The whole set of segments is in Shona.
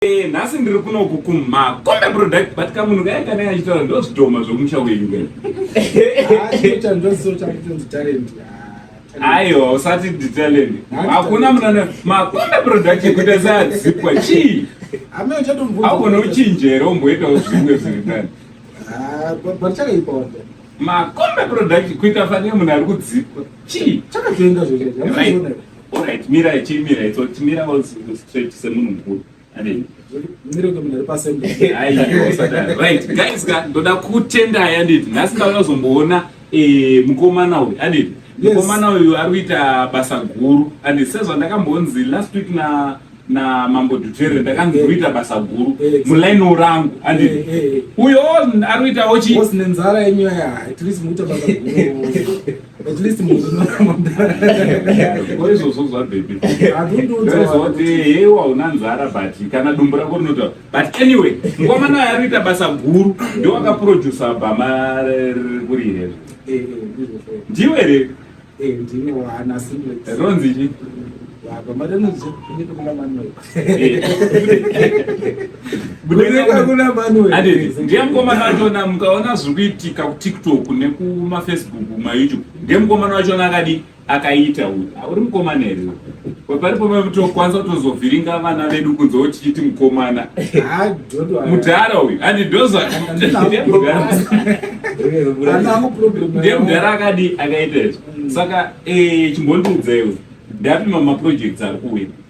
eh, nhasi ndiri kunoku kuma kombe product but kamunhu kaya kana yachitaura ndozvidhoma zvokumusha wenyu kena aiwa usati nditalent hakuna munana makombe product yekuita seadzipwa chii augona uchinjere umboitawo zvimwe zviri tani makombe product kuita fanire munhu ari kudzipwa chii chakatoenda zvee Alright, mira ichimira itso timira straight semunhu mukuru. Amen. right guys ka ndoda kutenda yanditi nhasi ndauya kuzomboona eh, mukomana uyu anditi mukomana uyu ari kuita basa guru anditi sezvandakambonzi last week na na mambo dutere ndakanzi eh. kuita basa guru eh, mulainiwo rangu andi eh, uyo ari kuitawo chii nenzara yenyu yaya at least muita basa guru At least munhu unoramba mudhara. Ko izvozvo zvabhepi. Ndozoti hey wauna nzara but kana dumbu rako rinotaura. But anyway, mukomana uyu ari kuita basa guru ndiwo akaproducer bhama riri here. Eh, eh, Ndiwe here? Eh, ndine wana singlet. Ronzi chi? Bhama rinozi kunyika kuna Manuel. ndiye mukomana wachona mukaona zviri kuitika kutiktok nekumafacebook mayoutube ndiye mukomana wachona akadi akaita uyu auri mukomana here paripo mekutokwanisa kutozovhiringa vana vedu kunze wotichiti mukomana mudhara uyu handi ndozvandiye mudhara akadi akaita izvo saka eh, chimbondiudzaiwo ndapima maprojects ari kuwina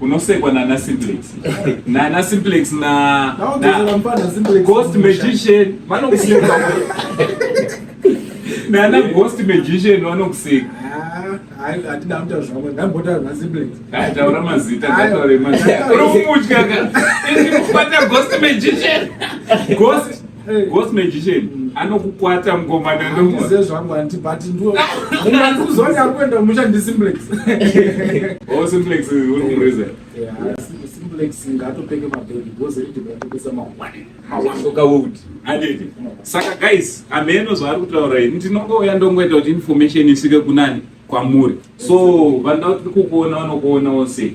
unosekwa nana simplex nana simplex na ghost magician vanokuseka nana ghost magician vanokuseka taura ah, mazita ngataure mazita uri kumutya ka iri kubata ghost magician ghost Ghost magician anokukwata mkomana ndokuze zvangu anti but ndo munga ndikuzonya kuenda musha ndi simplex. Oh simplex uri kumureza. Yeah, simplex ngatopenge mabhegi because ridi kutopesa mawani. Mawani ndoka wood. Andidi. Saka guys, ameno zvaari kutaura ini ndinongouya ndongoita kuti information isvike kunani kwamuri. So vanoda kuti kukuona vanokuona wose.